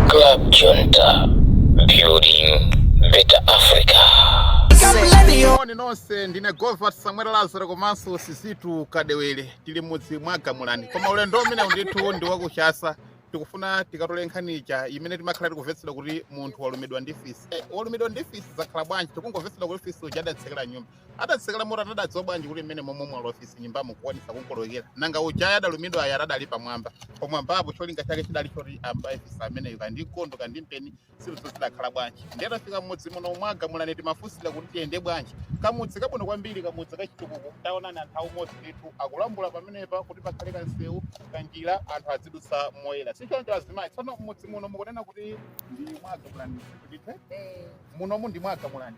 Club Junta, building better Africa. Moni nonse ndine Govert Samuel Lazaro komanso Sizitu Kadewere tili m'mudzi mwa Gamulani koma ulendo umenewu ndithu ndi wa ku Chasa tikufuna tikatole nkhani ija imene timakhala tikumvetsedwa kuti munthu walumidwa ndi fisi Eh, walumidwa ndi fisi zakhala bwanji tikungomvetsedwa kuti fisi uja adatsekera m'nyumba Adatsekera motani adadziwa bwanji kuti mmene momwe mwalowa fisi nyumbamu kukwanisa kukolowekera. Nanga ujayo adalumidwayo ati adali pamwamba. Pamwambapo cholinga chake chidali choti ambaye fisi ameneyu kaya ndi mkondo kaya ndi mpeni zinthuzo zidakhala bwanji. Ndiye tafika mmudzi muno mwa Gamulani timafunsira kuti tiyende bwanji. Kamudzi kabwino kwambiri kamudzi kachitukuko taonani anthu aumodzi ndithu akulambula pamenepa kuti pakhale kansewu kanjira anthu azidutsa moyera. Sichoncho azimayi tsono mmudzi muno mukunena kuti ndi mwa Gamulani kuti munomu ndi mwa Gamulani.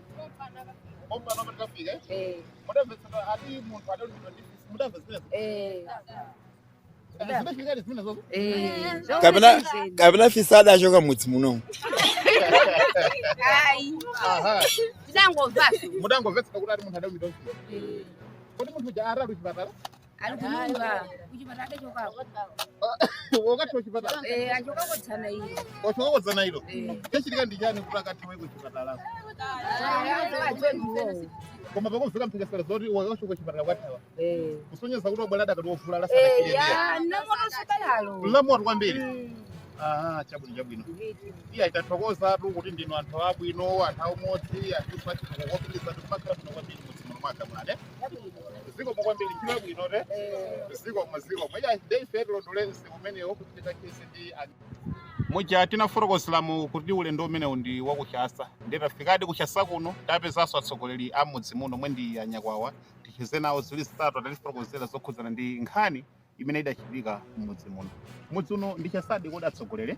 kapena kapena fisi adachoka m'mudzi muno tidangomva mudangomvetsera kuti ati munthu adalumidwa kuti munthu uja adali kuchipatala ali kunyumba kuchipatala adachokako wakathawa chipatala eh, achokako dzana iyo wachokako dzana ilo chachitika ndi chani kuti akathawe kuchipatalako koma pakumveka mphekesera zoti wakachoka kuchipatala kothawa eh. kusonyeza kuti wabwera adakali wovulala sanachire lamotonso balalo eh, lamoto kwambiri mm. Aha, chabwino chabwino. Iyayi tathokozatu kuti ndinu anthu abwino, anthu aumodzi, anthu achitukuko kuti mumakhala bwino kwambiri m'mudzi muno mwa Gamulani. zikomo kwambiri ntchito yabwino te zikomo zikomo iya nde ife tilondole msewu umenewo kuti tikacheze ndi anthu muja tinafotokozeramu kuti ulendo umenewu ndi wa ku Chasa nde tafikadi ku Chasa kuno tapezanso atsogoleri a m'mudzi muno omwe ndi anyakwawa ticheze nawo ziwiri zitatu atatifotokozera zokhudzana ndi nkhani imene idachitika m'mudzi muno mudzi uno ndi Chasadi kodi atsogoleri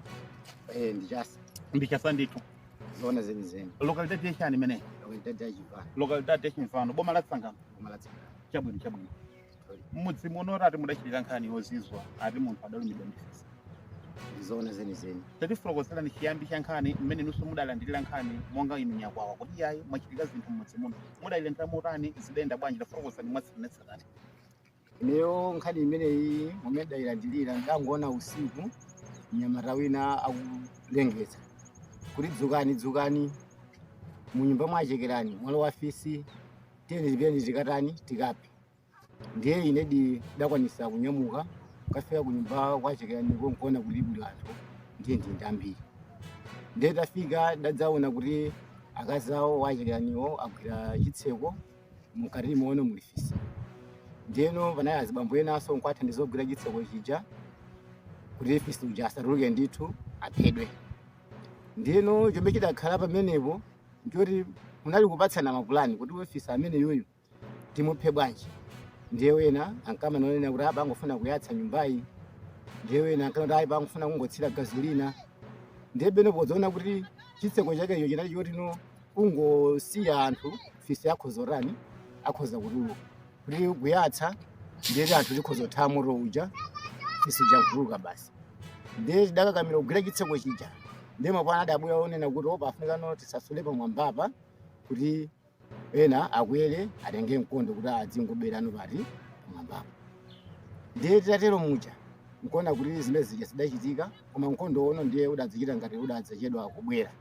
Eh, ndi Chasa ndi Chasa ndithu zona zenizeni lokalidade yachani imeneyi lokalidade ya Chimvano lokalidade ya Chimvano boma la Tsangano boma la Tsangano chabwino chabwino m'mudzi muno ati mudachitika nkhani yozizwa ati munthu adalumidwa ndi fisi ndi zona zenizeni tatifotokozerani chiyambi cha nkhani mmene inunso mudalandirira nkhani monga inu nyakwawa kuti iyayi mwachitika zinthu m'mudzi muno mudayilandira motani zidayenda bwanji tafotokozani mwatsatanetsatane Ineyo nkhani imeneyi momwe ndayilandilira ndangoona usiku mnyamata wina akulengeza kuti dzukani dzukani munyumba mwa a Chekerani mwalowa fisi tiyeni tipiteni tikatani tikaphe ndiye inedi dakwanisa kunyamuka kafika kunyumba kwa a Chekeraniko nkuona kuti kuli anthu ndiye ndi ndi ambiri ndiye tafika dadzaona kuti akazi awo a Chekeraniwo agwira chitseko mukati muno muli fisi ndiyeno panali azibambo enaso nkuathandiza kugwira chitseko chija kuti fisi uja asatuluke ndithu aphedwe ndeno chomwe chidakhala pamenepo ndichoti munali kupatsana mapulani kuti fisi ameneyuyu timuphe bwanji ndiye wena ankamanena kuti apa angofuna kuyatsa nyumbayi ndiye wena ankanena kuti apa angofuna kungothira gazolina ndiyeno podzaona kuti chitseko chakecho chinali choti no kungosiya anthu fisi akhoza kutani akhoza kutuluka kuti kuyatsa ndiye kuti anthu tikhoza kuthawa moto uja fisi uja nkutuluka basi ndiye tidakakamira kugwira chitseko chija ndiye mapulani adabwera onena kuti apa afunika no tisasule pamwambapa kuti ena akwere atenge mkondo kuti adzingobayira no pati pamwambapa ndiye titatero muja nkuona kuti zimene zija zidachitika koma mkondo no ndiye udadzichita ngati udadzachedwa kubwera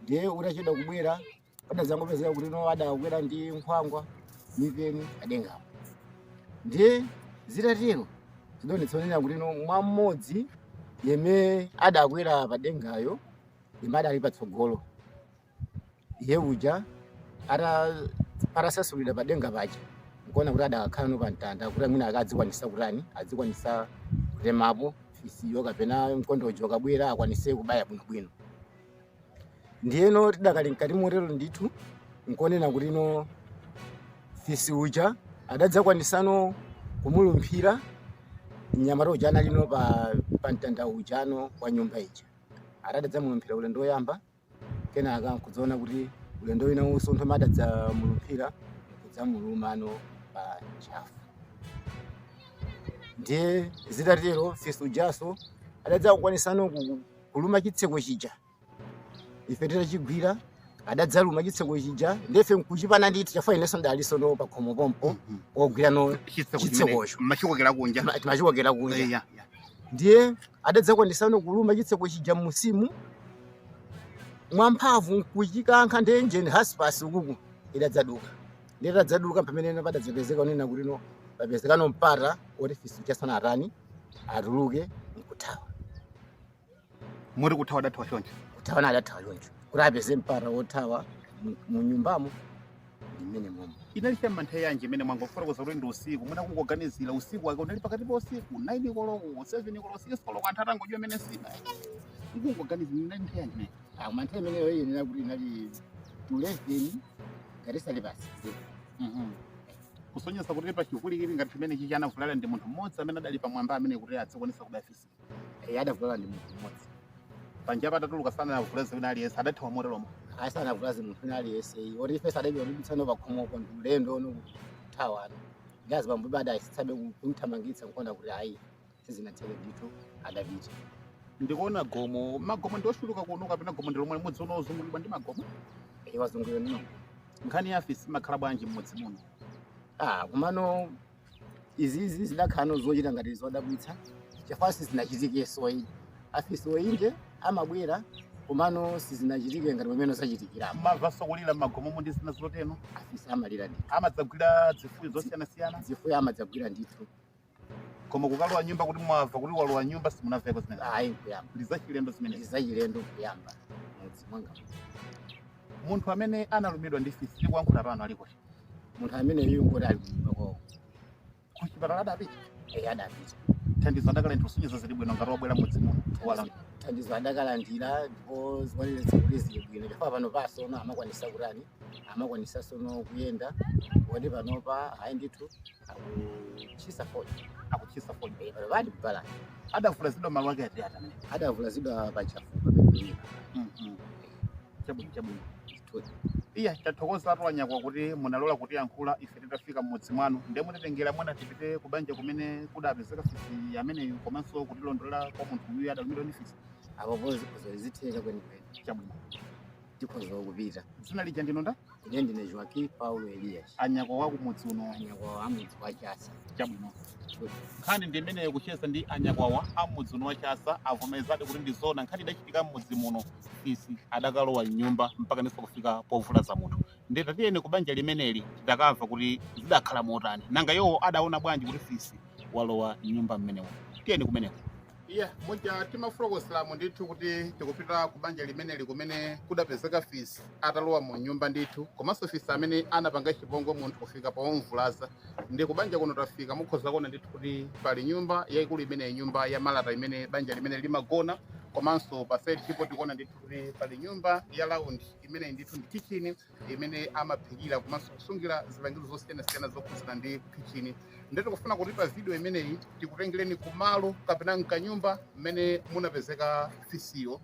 ndiye utachedwa kubwera adadzangopezeka kuti no adakwera ndi nkhwangwa mipeni padengapo ndiye zitatero zidaonetsa kunena kuti no mwa mmodzi yemwe adakwera padengayo yemwe adali patsogolo iye uja ata- atasasulira padenga paja nkuona kuti adakakhala no pamtanda kuti mwina akadzikwanisa kutani adzikwanisa kutemapo fisiyo kapena mkondojo ukabwera akwanise kubaya bwinobwino ndiyeno tidakali mkati motero ndithu nkuona kuti no fisi uja adadzakwanisano kumulumphira mnyamata uja anali no pa, pa mtanda uja no wa nyumba ija adadzamulumphira ulendo woyamba kenaka nkudzaona kuti ulendo winawonso nthawi yomwe adadzamulumphira kudzamulumano pa ntchafu ndiye zitatero fisi ujaso adadzakwanisano ku- kuluma chitseko chija ife titachigwira adadzaluma chitseko chija ndiye ife nkuchipana nditi chafuna inenso ndalinso no pakhomo pompo ogwira no chitsekocho timachikokera kunja Ma- timachikokera kunja Eya, ya. ndiye adadzakwanisano kuluma chitseko chija musimu mwamphamvu nkuchikankha ndiye hinji hasipu ukuku idadzaduka ndiye itadzaduka pamene no padadzapezeka kunena kuti no papezekano mpata oti fisi uja atani atani atuluke nkuthawa moti kuthawa adathawa choncho kuthawa adathawa choncho kuti apeze mpata wothawa mu- mu nyumbamo ndiye mwinamwake inali chamma nthawi yanji imene mwangofotokoza kuti ndi usiku mwina kungoganizira usiku wake unali pakati pa usiku 9 koloko 7 koloko 6 koloko anthu atangodya kumene nsima kungoganizira inali nthawi yanji imene Ah, mma nthawi imeneyo iyenera kuti inali to eleven kapena half past Mhm. kusonyeza kuti pachipwirikiti ngati chimenechichi anavulala ndi munthu mmodzi amene adali pamwamba amene kuti adzikwanisa kubaya fisi Eh, adavulala ndi munthu mmodzi panjapo atatuluka sanavulaze wina aliyense adathawa moteromo asanavulaze munthu wina aliyense oti ife sadaiwa ndibitsano pakhomoko ndi ulendo ono kuthawana ndi azibambo adayesetsabe kumthamangitsa nkuona kuti ayi sizinatheke ndithu adapita ndikuona gomo magomo ndi ochuluka kuno kapena gomo ndi lomweli limodzi uno ozungulidwa ndi magomo wazungulidwa ndi magomo nkhani ya afisi imakhala bwanji mmudzi muno ah komano Izizi zidakhalano zochita ngati zodabwitsa chifukwa sizinachitikenso ayi. Afisi inde amabwera komano sizinachitike ngati pamene zachitikira. Mumamvanso kulira m'magomomu ndi zina zotero? Afisi amalira ndithu. Amadzagwira zifuyo zosiyanasiyana? Zifuyo amadzagwira ndithu. Koma kukalowa nyumba kuti mwamva kuti walowa nyumba simunamveko zimenezo? Ayi nkuyamba. Ndi zachilendo zimenezi? Ndi zachilendo nkuyamba m'mudzi mwanga muno. Munthu amene analumidwa ndi fisi tikuyankhula pano ali kuti? Munthu ameneyu ngoti ali kunyumba kwawo. Ku chipatala adapita? Eyi adapita. Thandizo adakalandira kusonyeza zili bwino ngati wabwera mudzi muno. Wala. Thandizo adakalandira ndipo zikuonetsa kuti zili bwino chifukwa pano pasono amakwanisa kutani amakwanisa sono kuyenda koti panopa ayi ndithu akuchisa fodya Akuchisa fodya. Eh, pano ali kubalani Adavulazidwa malo ake ati ati amene. adavulazidwa pa ntchafupa pamene Mhm. chabwino chabwino iya tathokozatu anyakwawa kuti munalola kutiyankhula ife titafika mmudzi mwanu nde mutitengera mwina tipite ku banja kumene kudapezeka fisi ameneyu komanso kutilondolera kwa munthu uyu adalumidwa ndi fisi apopo zikhoza zitheka kwenikweni chabwino tikhoza kupita dzina lija ndinu ndani Ine ndine Joaquim Paulo Elias. Anyakwawa kumudzi uno. Anyakwawa a mudzi wa Chasa. Chabwino. Nkhani ndi imeneyo kucheza ndi anyakwawa a mudzi uno wa Chasa avomerezadi kuti ndi zoona nkhani idachitika m'mudzi muno fisi adakalowa m'nyumba mpaka ndiso kufika povulaza munthu nde tatiyeni ku banja limeneli tidakamva kuti zidakhala motani nanga iwo adaona bwanji kuti fisi walowa m'nyumba mmenemo tiyeni kumeneko ya muja timafotokozeramo ndithu kuti tikupita ku banja limeneli kumene kudapezeka fisi atalowa mu nyumba ndithu komanso fisi amene anapanga chipongwe munthu kufika pomvulaza ndi ku banja kuno tafika mukhoza kuona ndithu kuti pali nyumba yayikulu imeneyi nyumba ya malata imene banja limeneli limagona komanso pa side chipo tikuona ndithu kuti pali nyumba ya laundi imeneyi ndithu ndi kitchen imene amaphikira komanso kusungira zipangizo zosiyanasiyana zokhudzana ndi khichini ndiye tikufuna kuti pa vidiyo imeneyi tikutengereni kumalo kapena mkanyumba mmene munapezeka fisiyo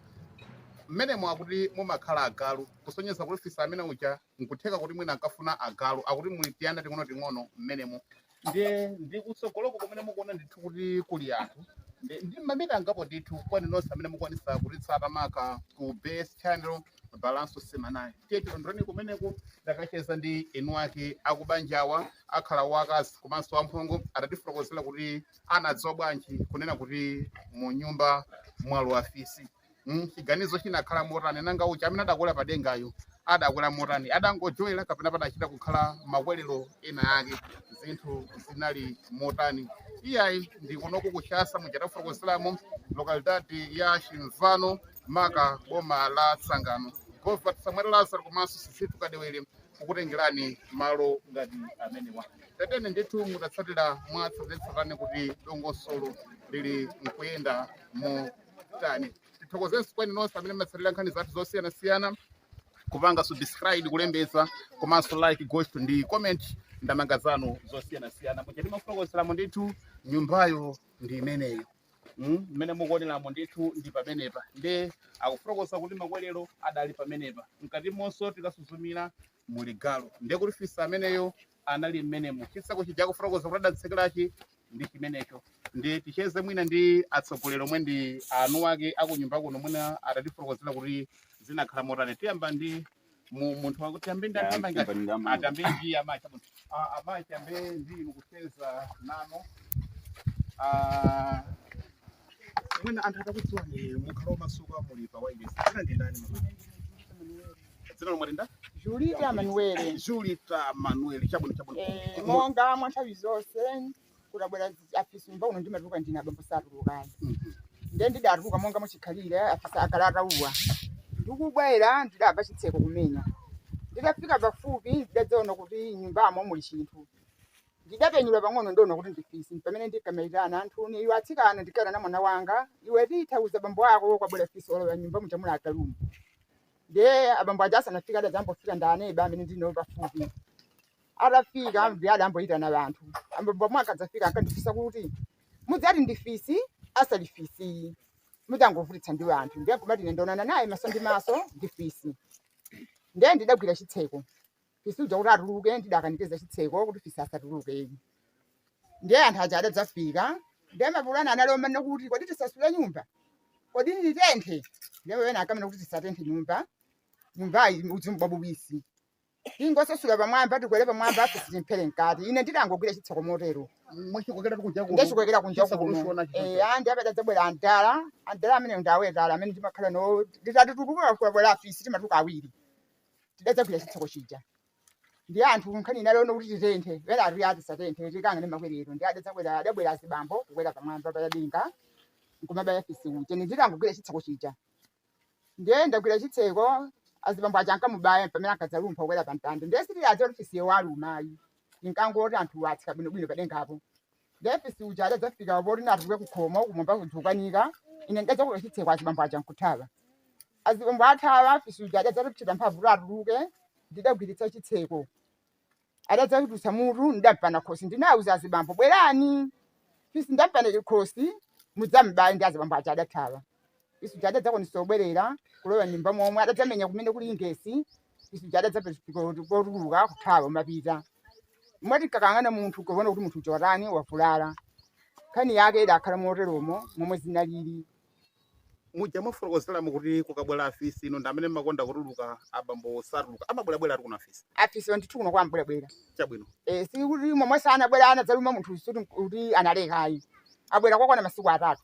mmenemo akuti mumakhala agalu kusonyeza kuti fisi amene uja nkutheka kuti mwina ankafuna agalu akuti muli tiyana ting'onoting'ono mmenemo ndiye ndi kutsogoloko kumene mukuona ndithu kuti kuli anthu ndi ndi mamita angapo ndithu kwa inu nonse amene mukwanisa kutitsata maka ku base channel balanso semanayi tiye tilondoleni kumeneko ndakacheza ndi eni ake akubanjawa akhala wakazi komanso amphongo atatifotokozera kuti anadziwa bwanji kunena kuti mu nyumba mwalowa fisi mm, chiganizo chinakhala motani nanga uja amene adakwera pa dengayu adakwera motani adangojowera kapena padachita kukhala makwerero ena ake zinthu zinali motani iyayi ndi kunoku kuchasa muja tafotokozeramo lokalidadi ya chimvano maka boma la tsangano govat samuel lazaro komanso sisitu kadewere kukutengerani malo ngati amenewa tatene ndithu mutatsatira mwatsatanetsatane kuti dongosolo lili nkuyenda mo tani tithokozenso kwa inu nonse amene mmatsatira nkhani zathu zosiyanasiyana kupanga subscribe kulembetsa komanso like gosto ndi comment ndamanga zanu zosiyanasiyana muja timafotokozeramo ndithu nyumbayo ndi imeneyo Mm, mmene mukuoneramo ndithu ndi pamenepa nde akufotokoza kuti makwerero adali pamenepa mkatimonso tikasuzumira muli galu ndiye kuti fisi ameneyo anali mmenemo chitseko chija akufotokoza kuti adatsekerachi ndi chimenecho nde ticheze mwina ndi atsogoleri omwe ndi eni ake akunyumba kuno mwina atatifotokozera kuti zinakhala motani tiyamba ndi mu- munthu wakuti tiyambe ndi atamba ngati tiyambe ndi amayi chabwino Ah, amayi tiyambe ndi inu kucheza nanu Ah, mwina anthu atakudziwani mukhala omasuka muli pa wailesi dzina ndi ndani mama dzina lomwe linda julita manuele julita manuel chabwino chabwino Eh, Mu- monga mwa nthawi zonse kutabwera zi- afisi mba uno ndimatuluka ndine abambo satulukani Mhm. nde ndidatuluka monga muchikhalire afisi akalatauwa ndikubwera ndidabva chitseko kumenya ndidafika pafupi ndidadzaona kuti nyumbamo muli chinthu ndidapenyula pang'ono ndiona kuti ndi fisi pamene ndikamaitana anthuni iwe atsikana ndikanena mwana wanga iwe titha uza bambo ako kwabwera fisi walowa nyumba muchamula atalumu ndiye abambo aja asanafike adadzambofika ndi aneba amene ndili nawo pafupi atafika ndiye adamboyitana wanthu abambo amwe akadzafika ankandifunsa kuti mudzati ndi fisi asali fisi mudzangovutitsa ndi wanthu ndiye kumati ine ndaonana naye maso ndi maso ndi fisi ndiye ndidagwira chitseko fisi uja kuti atuluke ndidakanikiza chitseko kuti fisi asatuluke ndiye anthu aja adadzafika ndiye mapulani anali onena kuti kodi tisasule nyumba kodi titenthe ndiye wena akanena kuti tisatenthe nyumba nyumbayi udzu mbwauwisi tingosasula pamwamba tikwere pamwamba afisi timphere mkati ine ndidangogwira chitseko motero mwachikokera kunja kuno ndechikokera kunja Chisa kuno kuno chisonacho Eh, chija. andi apa atadzabwera andala andala amene ndawetala amene ndimakhala no nditati tuluka kwabwera afisi timatuka awiri tidadzagwira chitseko chija ndiye anthu nkhani inalona kuti titenthe wena ati ati satenthe tikang'ane makwerero ndi adadzabwera adabwera azibambo kukwera pamwamba padenga nkumabaya fisi uja ndidangogwira chitseko chija ndiye ndagwira chitseko azibambo aja ankamubaya pamene ankadzalumpha kukwera pamtanda ndiye sitidadziwe kuti fisiyo waluma yi ndinkangoti anthu atsika bwinobwino padengapo ndiye fisi uja adadzafika poti naatuluke kukhomo kumwamba kuja kukanika ine ndidadzagwira chitseko azibambo aja nkuthawa azibambo athawa fisi uja adadzachita mphamvu kuti atuluke ndidagwiritsa chitseko adadzatulutsa mutu ndidampana khosi ndinauza azibambo bwerani fisi ndampana khosi mudzam'baye ndi azibambo aja adathawa fisi uja adadzakwanisa kubwerera kulowa m'nyumba momwe adadzamenya kumene kuli ingesi fisi uja adadzapo tuluka kuthawa m'mapita m'makakang'ana munthu kuona kuti munthu uja watani wavulala nkhani yake idakhala moteromo momwe zinalili muja mwafotokozeramo kuti kukabwera afisi inu ndi amene mmakonda kutuluka abambo satuluka amabwerabwera ati kuna afisi afisi ndithu kuno kwambwerabwera chabwino Eh, si kuti momwe sanabwera anadzaluma munthu sikuti analeka yi abwera kwakwana masiku atatu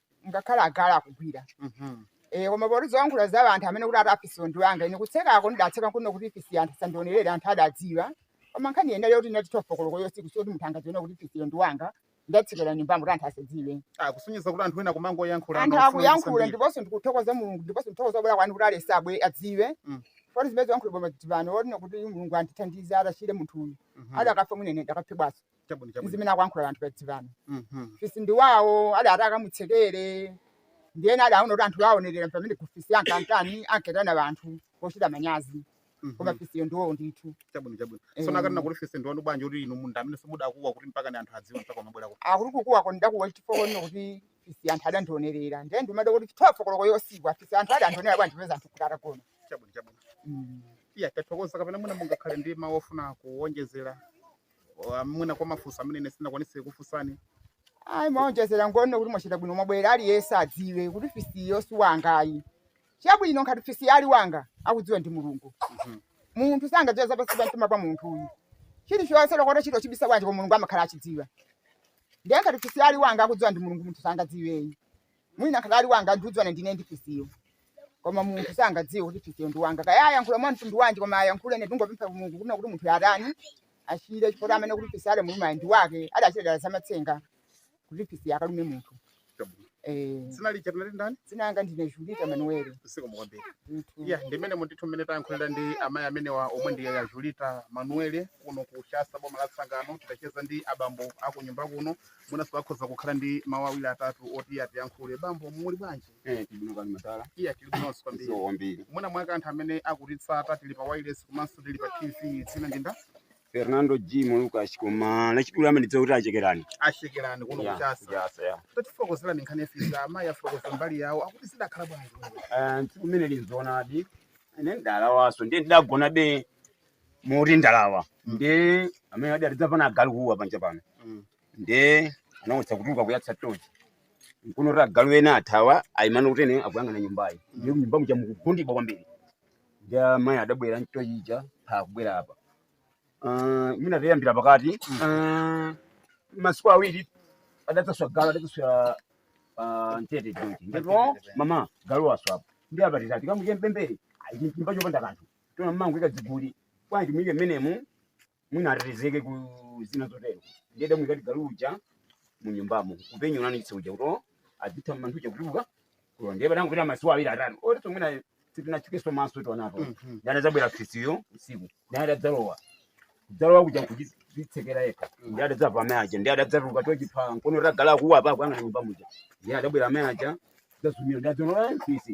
ngakhale agalu akuguwa Mhm. Eh, koma poti zoyankhula za anthu amene kuti ati afisiwo ndi wanga ine kutsekako ndidatseka kuno kuti fisi anthu sandionerere anthu adadziwa koma nkhani yinali yoti inali tuwelofu koloko yosiku soti munthu angadzione kuti fisiyo ndi wanga ndatsekera nyumbamo kuti anthu asadziwe Ah, kusonyeza kuti anthu ena kumangoyankhula anthu mafuno akuyankhula kusambira. ndiponso ndikuthokoza mulungu ndiponso ndikuthokoza kubwera kwanu kuti aliyense adziwe Mm. poti zimene zoyankhula koma tsopano ndingoti kuti mulungu andithandize adachire munthu uyu Mhm. adakafa mwina ine ndikadaphedwaso Chabwino, chabwino. zimene akuyankhula anthu pamudzi pano Mhm. fisi ndi wawo adati akamutsekere ndiye na adaona kuti anthu aonerera pamene kuti fisi ankatani ankaitana anthu pochita manyazi koma Mhm. fisiyo ndi wawo ndithu Chabwino, chabwino. Eh. Sono akanena kuti fisi ndiwanu bwanji kuti inu mundi amene simudakuwa kuti mpaka ni anthu adziwe mpaka amabwerako. akuti kukuwa ko ndakuwa chifukwa nino kuti fisi anthu adandionerera ndiye ndimadabwa kuti tuwelofu koloko yosiku a fisi anthu adandionera bwanji poza anthu kuti atagona Chabwino, chabwino. Mm. Iya, tathokoza kapena mwina mungakhale ndi mawu ofuna kuwonjezera. Kwa- mwina kwa mafunso amene ine sindinakwanitse kufunsani ayi mau owonjezera ngonena kuti mwachita bwino mwabwera aliyense adziwe kuti fisiyo si wanga ayi chabwino ngati fisi ali wanga akudziwa ndi mulungu munthu sangadziwa zapansi pa mtima pa munthu iyi chilichonse olo utachita kuchibisa bwanji kwa mulungu amakhala akuchidziwa ndiye ngati fisi ali wanga akudziwa ndi mulungu munthu sangadziwe yi mwina ngati ali wanga ndikudziwana ndine ndi fisiyo koma munthu sangadziwe kuti fisiyo ndi wanga kaya ayankhula mwa mtundu wanji koma ayankhule ine ndingopempha mulungu kunena kuti munthu atani achire chifukwa amene kuti fisi wamuluma ndi wake adachita dala zamatsenga kuti fisi akalume munthu Chabwino. eh Dzina lija munati ndani? dzina langa ndine julita manueli Zikomo kwambiri. ndithu Iya, ndi mmenemo ndithu mmene tayankhulira ndi amayi amenewa omwe ndi a Julita Manuel kuno ku Shasta boma la Tsangano titacheza ndi abambo aku nyumba kuno Mwinanso akhoza kukhala ndi mawu awiri atatu oti atiyankhule. Bambo, muli bwanji? Eh, tili bwino kaya madala? Iya, tili bwinonso kwambiri. Zikomo kwambiri. Mwina mwake anthu amene akutitsatira tili pa wireless komanso tili pa TV dzina ndi ndani? Fernando G Lucas koma lachidule amandidziwa kuti achekerani. achekerani kuno Ya, kuchasa. kuchasa, ya. Tatifotokozerani nkhani ya fisi amayi afotokoza mbali yawo akuti zidakhala bwanji. Eh, tsiku limeneli nzoonadi. Ine ndidalawanso ndiye ndidagona be moti ndalawa ndiye amene adati adzamva agalu kuuwa panja pano ndiye anawutsa kutuluka kuyatsa tochi nkuona kuti agalu ena athawa ayima pakuti ena akuyang'ana nyumbayi ndiye mnyumba muja mukugundibwa kwambiri ndiye amayi adabwera ndi tochi ija akubwera apa Ah, mwina tiyambire pakati Ah, masiku awiri adadzaswa galu adadzaswa ah, m'tete tochi ndipo mama galu waswa apa ndi apa titati kamuche mpembere chinyumba chopanda kanthu tona mmangoika dziguli bwanji muyike mmenemu mwina atetezeke ku zina zotero ndiye adamuyikadi galu uja mu nyumbamo kupenyonani chitsa uja kuto adzitha mmanthu uja kutuluka kulo ndiye padangopita masiku awiri atatu otiso mwina sitinasukenso maso tonapo Mhm. ndiye adadzabwera fisiyo usiku ndiye adadzalowa kudzalowa kuja kudzitsekera yekha ndiye adadzamva amayi aja ndiye adadzatuluka tochi pamkono agalu kuuwa apa kuyang'ana nyumba muja ndiye adabwera amayi aja kudzasuzumira ndiye adzaona ndi fisi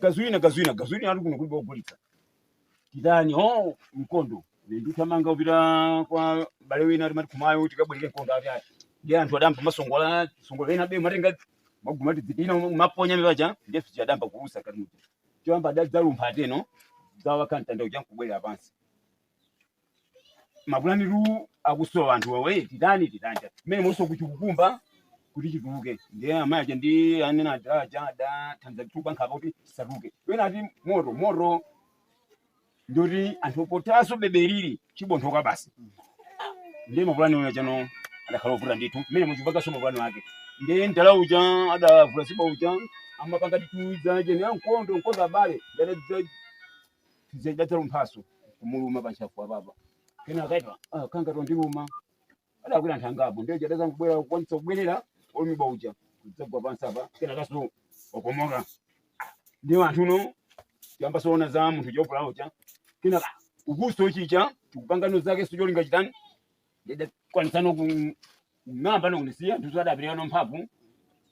gasolina gasolina gasolina ati kuno kulibe ogulitsa titani o mkondo ndi kuthamanga kupita kwa m'bale wina timati kumeneko tikabwereke mkondo ati ati ndi anthu adampa masongola songola ena bwe matenga magumati zidina maponya mipaja ndiye fisi adayamba kulusa kati muti choyamba adadzalumpha ateno adzawakha mtanda uja nkubwerera pansi mapulanitu akusowa anthu wawe titani titani mmene monso kuchikukumba kuti chituluke ndiye amayi aja ndi anyamata aja adathandiza kutukupa nkhaka kuti chisatuluke wena ati moto moto ndoti anthu potaso beberiri chibonthoka basi ndiye mapulani aja chano adakhala ovuta ndithu mmene muchiphanso mapulani wake ndiye mdala uja adavula siba uja amapanga tituza chene mkondo mkondo abale ndadadza Ndiye chidalumphanso kumuluma panchafu apapa. Kena akaitana ah chikundiluma. Adakwera anthu angapo ndiye chidadza kubwera kukwanitsa kubwerera olumidwa uja. Kudzagwa pansi apa kena nkukomoka. Ndi anthu ano tiyambe taona za munthu wovulala uja. Kena ukunso chija chikupangano zake ncholinga chitani ndiye chidakwanitsano kung'amba nkusiya anthu adapirira ndi mphamvu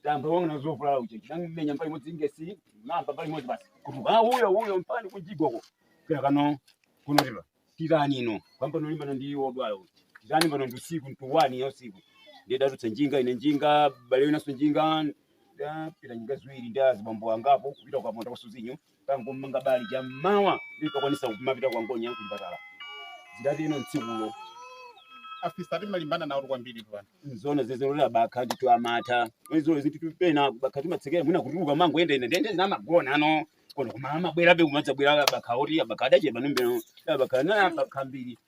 tayamba taona za wovulala uja chidamenya mbali imodzi ingesi ng'amba mbali imodzi basi kutuluka uyo uyo mpani kujigoko kira kano kunotera tirani ino kuyamba nkulimbana ndi odwala uyu tirani pano ndi usiku cha m'ma wani ya usiku ndiye ndidatulutsa njinga ine njinga m'bale winanso njinga tidapita njinga ziwiri ndi azibambo angapo kupita kwa Kaponda kasuzinyo tangomanga bali cha mmawa ndipakwanisa kumapita kwa ngonya ku chipatala zidatero m'tsikulo afisa timalimbana nawo kwambiri pano nzona zezerolera bakha ndithu amatha izo ziti tupena bakha timatsekera mwina kutuluka mangoyenda ine nde namagona konkuno koma amabwerabe kumadzabwera abakha oti abakha adachepa ndiyeno abakha na bakha ambiri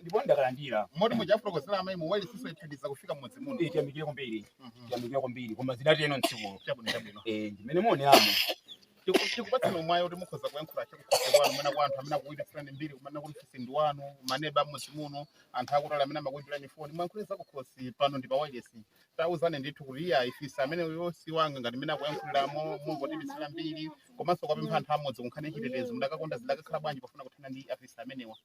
ndipo ndakalandira moti muja afotokozera amayi mu wailesi atithandiza kufika mmudzi muno Eh, tiyamikire kwambiri Mhm. tiyamikire kwambiri koma zidatero m'tsikulo chabwino chabwino Eh, ndimene muoneramo Tiku- tikupatsani umwayi kuti mukhoza kuyankhula chakukhosi kwanu mwina kwa anthu amene akuipitsirani mbiri kumene kuti fisi ndi wanu maneba mmudzi muno anthu akutali amene amakuimbirani foni muwayankhule zakukhosi pano ndi pa wailesi tauzani ndithu kuti iyayi fisi amene uyo si wanga ngati mmene akuyankhuliramo mungotiipitsira mbiri komanso kuwapempha anthu a m'mudzi kunkhani yachitetezo mudakakonda zidakakhala bwanji pofuna kuthana ndi afisi amenewa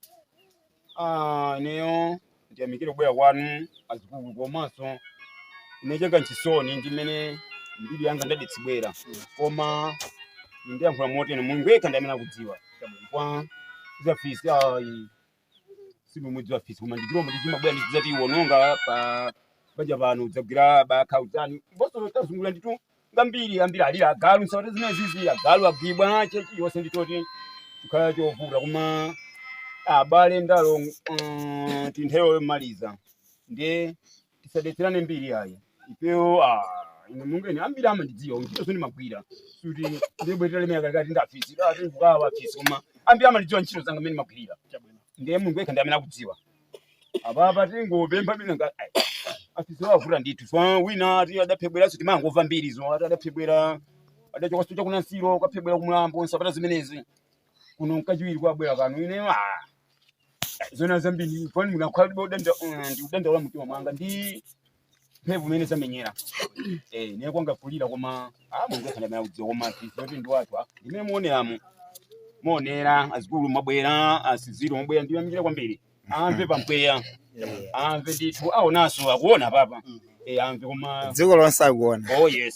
Ah, ineyo ndiyamikire kubwera kwanu azikulu komanso ine changa nchisoni ndi mmene mbiri yanga yadetsedwera koma ndiyankhula motere mulungu yekha ndi amene akudziwa chabwino kwa zafisi ayi simumudzi wafisi koma ndichilombo chimabwera ndi kudzatiwononga pa banja pano kudzagwira bakha mwina nkhosa tazunzika ndithu ndi ambiri ambiri alira agalu nsawati zimene zizi agalu agwidwa chilichonse ndi choti chikhala chovuta koma abale ndalo mm, ndi nthawi yomaliza ndiye tisadetserane mbiri ayi ifeyo ah, ine mungeni ambiri amandidziwa ntchito zomwe ndimagwira kuti ndibwere ndilemere kalikati ndafisi ati ndikukawa afisi koma ambiri amandidziwa ntchito zanga mmene ndimagwirira ndiye Mulungu yekha ndi amene akudziwa apapa tingopempha bwino ngati ai, afisi avuta ndithu fa wina ati adaphedweranso timangomva mbiri zo ati adaphedwera adachoka situ cha kunsiko kukaphedwera kumlambo nsapata zimenezi kuno nkachiwiri kubwera kano ine ah, zona zambiri fani ndinakhala ndikudanda ndikudandaula mtima mwanga ndi mphavu imene adamenyera eh nde kwanga kulira koma ah Mulungu yekha amene akudziwa koma ti zoti ndi wathu ah imene muoneramo muonera azikulu mwabwera asiziro mwabwera ndiyamikire kwambiri amve pampweya amve ndithu awonso akuona apa eh amve koma dziko lonseli akuona oh yes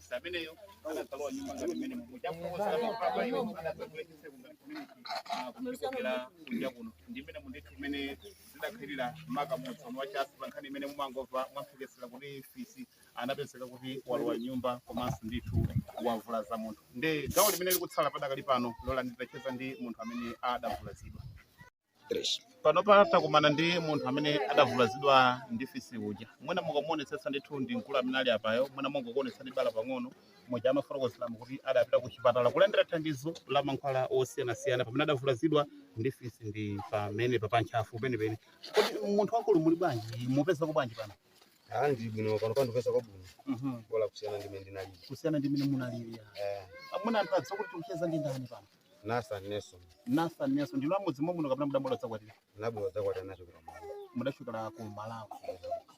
ameneyo anakalowa m'nyumba ngati mmene mwafotokozeramo apa iwo anatsegula chitseko ngati kumene kuchokera kunja kuno ndi mmene mu ndithu mmene zidakhalira maka mu Tsono wa tsatanetsatane pa nkhani imene mumangomva mwamphekesera kuti fisi anapezeka kuti walowa m'nyumba komanso ndithu wavulaza munthu ndi gawo limene likutsala padakali pano lolani ndicheze ndi munthu amene adavulazidwa Panopa takumana ndi munthu amene adavulazidwa ndi fisi uja. Mwina mukamuonetsetsa ndithu ndi mkulu amene ali apayo, mwina ndingokuonetsani bala pang'ono, muja amafotokozeramo kuti adapita kuchipatala kulandira thandizo la mankhwala osiyanasiyana pamene adavulazidwa ndi fisi ndi pamenepa pa ntchafu penipeni. Kodi munthu wamkulu muli bwanji? Mukupezako bwanji pano? Ah, ndili bwino panopa ndikupezako bwino Mhm. bola kusiyana ndi mmene ndinalili. Kusiyana ndi mmene munalili. Eh, Mwina anthu adziwe kuti tikucheza ndi ndani pano? Nathan Nelson. Nathan Nelson ndinu a mudzi momuno kapena mudabwera kudzakwatira? Ndinabwera kudzakwatira ndachokera. Mudachokera ku Malawi.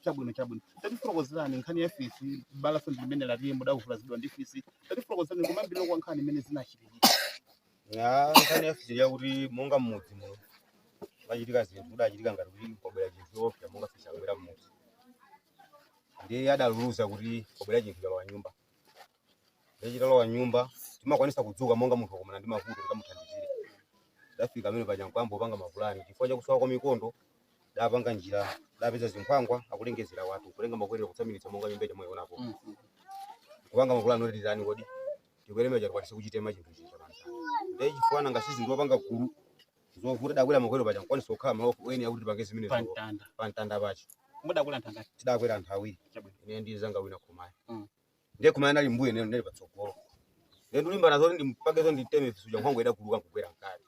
Chabwino chabwino. Tatifotokozerani nkhani ya fisi balalo ndi limene akuti mudavulazidwa ndi fisi. Tatifotokozerani kumayambiriro kwa nkhani mmene zinachitikira. Ya nkhani ya fisi yakuti monga mmudzi muno pachitika zinthu kudachitika ngati kuti kwabwera chinthu choopsa monga fisi akubwera mmudzi. Ndiye adalulutsa kuti kwabwera chinthu chalowa nyumba. Ndiye chitalowa nyumba timakwanisa kudzuka monga munthu wakumana ndi mavuto tikamuthandizire. Tidafika amene paja nkuyamba kupanga mapulani chifukwa chakusowa kwa mikondo dapanga njira dapeza zinkhwangwa akulengezera watu kutenga makwerero kutsamiritsa monga nyumba mukuionapo kupanga mapulani oti titani kodi tikwere mmwamba tikwanise kuchitema chinthu chija ndiye chifukwa nanga si ndiwapanga gulu zovuta dakwera makwerero paja nkwanisa kukhala malo eni akuti tipange zimene pamtanda pamtanda pachi mudakwera anthu angati tidakwera anthu awiri Chabwino. ine ndi mnzanga wina Khumaya Mm. ndiye Khumaya anali mmbuyo neno ndinali patsogolo ndiye ndikulimbana zoti ndipange zoti nditeme fisi uja nkhwangwa idaguluka nkugwera mkati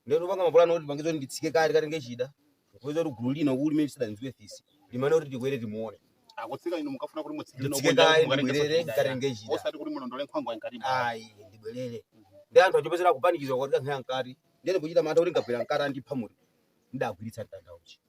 ndiye ndikupanga mapulani oti ndipange zoti nditsike kati kati ngechida kupeza kuti gulu lino kuli mmimu silidadziwe fisi limati kuti tikwere timuone akutsika inu mumafuna kuti mutsikire nditsike nokuona kaye mukatenga ndibwerere soti ndikati ngechida osati kuti mulondole nkhwangwa yamkatimo ayi ndibwerere ndi anthu akuchuluka kupanikizwa kuti akankha mkati ndiye ndikuchita mantha kuti ndikagwera mkati andipha ndiye ndagwiritsa mtanda uja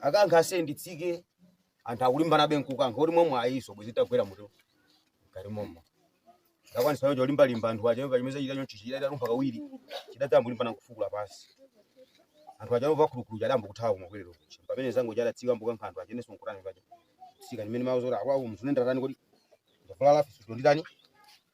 akankha kuti nditsike anthu akulimbanabe nkukankha kuti momwe ayiso bwezi tagwera mutu ngati momwe ndakwanisa yonje olimbalimba anthu aja yomva chimene chachita choncho chida italumpha kawiri chida tayamba kulimbana nkufukula pansi anthu aja pomva khulukulu adayamba kuthawa kumakwerero kuja pamene mnzanga uja adatsika nkukankha anthu aja nenso nkutani paja tsika ndimene mawu zoti akwawo munthune ndatani kuti ndavulala fisi wanditani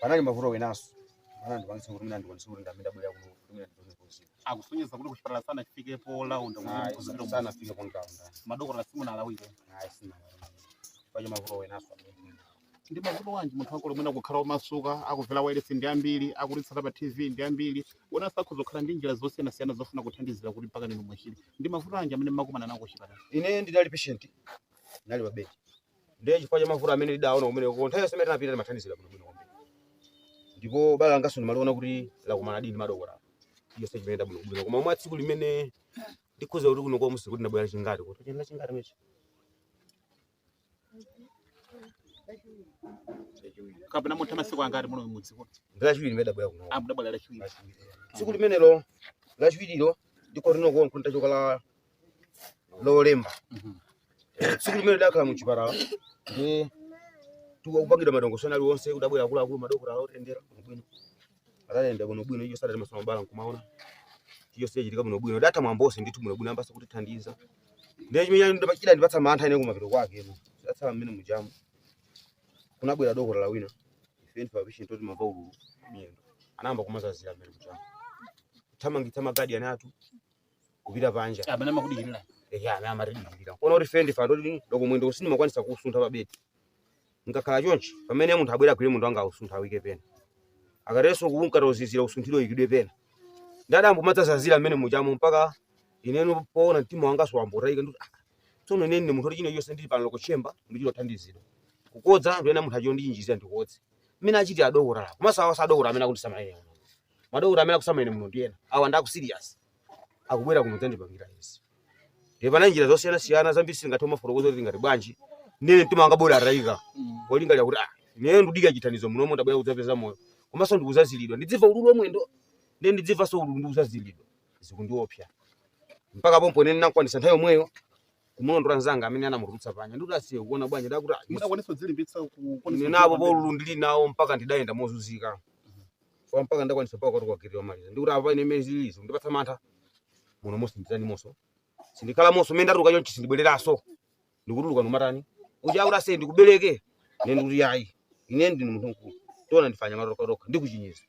panali mavuto enanso ana ndikwanisa kuti mina ndikwanisa kuti ndimene ndabwera kuno kuti mina ndikwanisa kuzimu akusonyeza kuti kuchipatala sana chifike polaunda kuti sana fike pontaunda madokotala simunawauze ayi sina paja mavuto enanso ndi mavuto anji muli nawo omwe mungakhale omasuka akumvera wailesi ndi ambiri akutitsata pa tv ndi ambiri enanso akhoza kukhala ndi njira zosiyanasiyana zofuna kuthandizira kuti mpakana inu muchire ndi mavuto anji amene mmakumana nawo kuchipatala ine ndinali patient ndinali pa bedi ndiye chifukwa cha mavuto amene ndidaona kumeneko kwa nthawi yonse imene ndinapita ndimathandizidwa bwinobwino kwambiri ndipo bala langanso ndimaliona kuti lakumana ndi madokotala yonse chimene ndabwinobwino koma mwa tsiku limene ndikhoza kuti kuno kwa mudzi kuti ndabwera chingati kuti chenda chingati mechi kapena mwatha masiku angati muno mudzi kuno ndi lachiwiri limene ndabwera kuno a mudabwera lachiwiri tsiku limenelo lachiwirilo ndiko lino kuno nkuchoka la lolemba tsiku limene ndidakhala mu chipatala ndiye kupangidwa madongosolo aliwonse kudabwera akuluakulu madokotala kutiyendera bwinobwino atatiyendera bwinobwino iyo adatimasula mabala nkumaona iyo zidachitika bwinobwino tatha mwambo onse ndithu bwinobwino ayambanso kutithandiza ndiye chimene chidachita kundipatsa mantha ine kumapeto kwake ndidatsala mmene mujamu kunabwera dokotala wina ife ndife mapatient oti timamva ululu miyendo anayamba kumatizazira mmene mujamu kuthamangitsa magadiyani athu kupita panja amene amakudikirira ehe amene amatidikirira kuona kuti ife ndife anthu oti loko mwendo sindimakwanisa kusuntha pa bedi ndikakhala chonchi pamene munthu abwera agwire mwendo wanga ausunthe auike pena ukatenso ukangoti uzizira usunthidwe uikidwe pena ndiye adayamba kumatizazira mmene mujamu mpaka ineno poona mtima wanga unayamba kutayika ndikuti ah, tsono ine ndine munthu oti chilichonse ndili pano loko chimbudzi ndichita kuthandizidwa kukodza ndiye munthu achite kunditchinjirizira ndikodze mmene achitira adokotala komanso awa sadokotala amene akundisamalira madokotala amene akusamalira muno ndi ena awa ndi akusirias akubwera kuno kudzandipangira izi ndiye pali njira zosiyanasiyana zambiri sitingathe kumafotokoza kuti tingati bwanji ine mtima wanga unatayika polingalira kuti ah ineyo ndikudikirira chithandizo muno momwe ndabwera kudzapeza moyo komanso ndikuzazilidwa ndidzimva ululu wa mwendo ndiye ndidzimvanso ululu ndikuzazilidwa zikundiopsa mpaka pompo ine ndinakwanisa nthawi yomweyo kumulondola nzanga amene anamutulutsa panja ndikuti asiye kuona bwanji ndakuti ah, isi- Mudakwanisa kudzilimbitsa ku- kuona zinazo kuti- pa ululu ndili nawo mpaka ndidayenda mozunzika chifukwa mpaka ndakwanisa mpaka kuti kugwirira ndamaliza ndikuti apa ine mmene zilili zikundipatsa mantha munomonso nditani munomonso sindikhala munomonso mmene ndatuluka chonchi sindibwereranso ndikutuluka ndikumatani uja akuti aise ndikubereke ine ndikuti yayi ine ndine munthu mkulu tiona ndifanya matokatoka ndikuchinyenga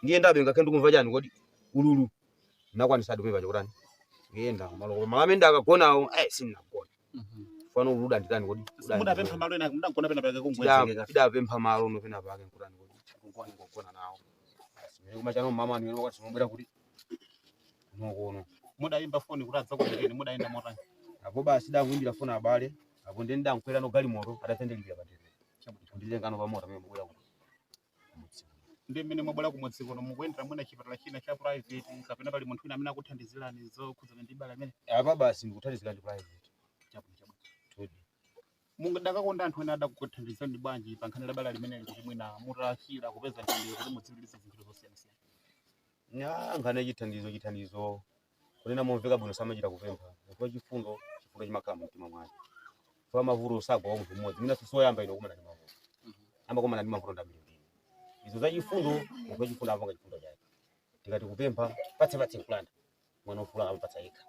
ndiyendabe ngakhale ndikumva chani kodi ululu ndakwanisadi kuvachako kutani kuyenda malo kumene amene ndakagonawo ayi sindinagona pano udandi tani kodi Udani mudapempha kodi? malo ena mudagona pena pake Tida- kungwezekeka tidapempha malo no pena pake nkutani kodi nkugona kugona nawo Ndi mmene kumacha mmamawa ndi pomwe mukuti tsopano mudayimba foni kuti adzakubereni mudayenda motani apo basi ndakuimbira foni abale apo ndiye ndidakwerano galimoto adandilipirira pamene ndikwereno pamoto pamene mwabwera kuti kumudzi kuno. ndiye mmene mwabwera kumudzi kuno mukuyendera mwina chipatala china cha private kapena pali munthu wina amene akukuthandizirani zokhudzana ndi bala limeneli Apa basi ndikuthandizidwa ndi private. chabwino chabwino Todi. mukadakonda anthu ena adakuthandizirani bwanji pa nkhani ya bala limeneli kuti mwina muthe kuchira kupeza thandizo kuti mudzigulire zinthu zosiyanasiyana Nga nkhani ya chithandizo chithandizo kunena momveka bwino samachita kupempha munthu wachifundo chifundo chimakhala mu mtima mwake chifukwa mavuto sagwera munthu mmodzi ine sindine woyamba ine kumana ndi mavuto amakumana ndi mavuto ndi ambirimbiri izo za chifundo munthu wachifundo amapanga chifundo chake tikati kupempha patse patse nkulanda mwana wa mfulu amapatsa yekha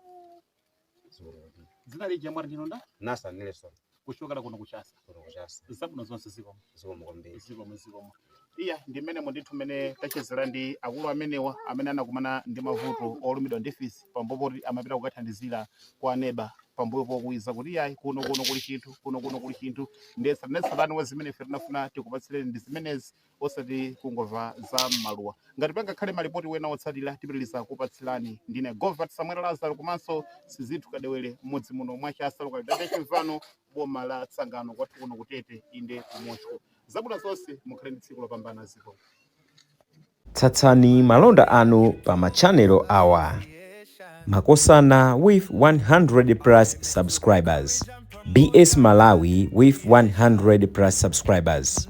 Zimene kuti. dzina lija mwati ndinu ndani Nathan Nelson kuchokera kuno kuchasa kuno kuchasa zabwino zonse zikomo zikomo kwambiri zikomo zikomo iya ndi mmene mundithu mmene tachezera ndi akulu amenewa amene anakumana ndi mavuto olumidwa ndi fisi pambuyo poti amapita kukathandizira kwa aneba pambuyo pokuwiza kuti iyayi kuno kuno kuli chinthu kuno kuno kuli chinthu ndesa ndesatani wa zimene ife tinafuna tikupatsireni ndi zimenezi osati kungomva za mmaluwa ngati pangakhale malipoti ena otsatira tipitiriza kupatsirani ndine govat samuel lazaro komanso sizithu kadewere mmudzi muno mwa chasa localidade Chinvano boma la tsangano kwathu kuno ku Tete inde kumocho zabwino zonse mukhale ndi tsiku lopambana ziko tsatsani malonda anu pa machanelo awa makosana with 100 plus subscribers bs malawi with 100 plus subscribers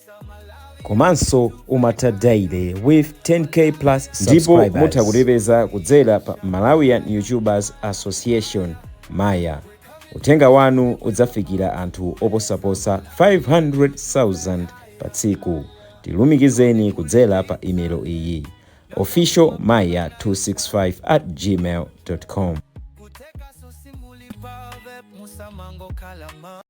komanso umatha daily with 10k plus ndipo mutha kutipeza kudzera pa malawian youtubers association maya uthenga wanu udzafikira anthu oposaposa 500,000 pa tsiku tilumikizeni kudzera pa email iyi official maya 265 at gmail com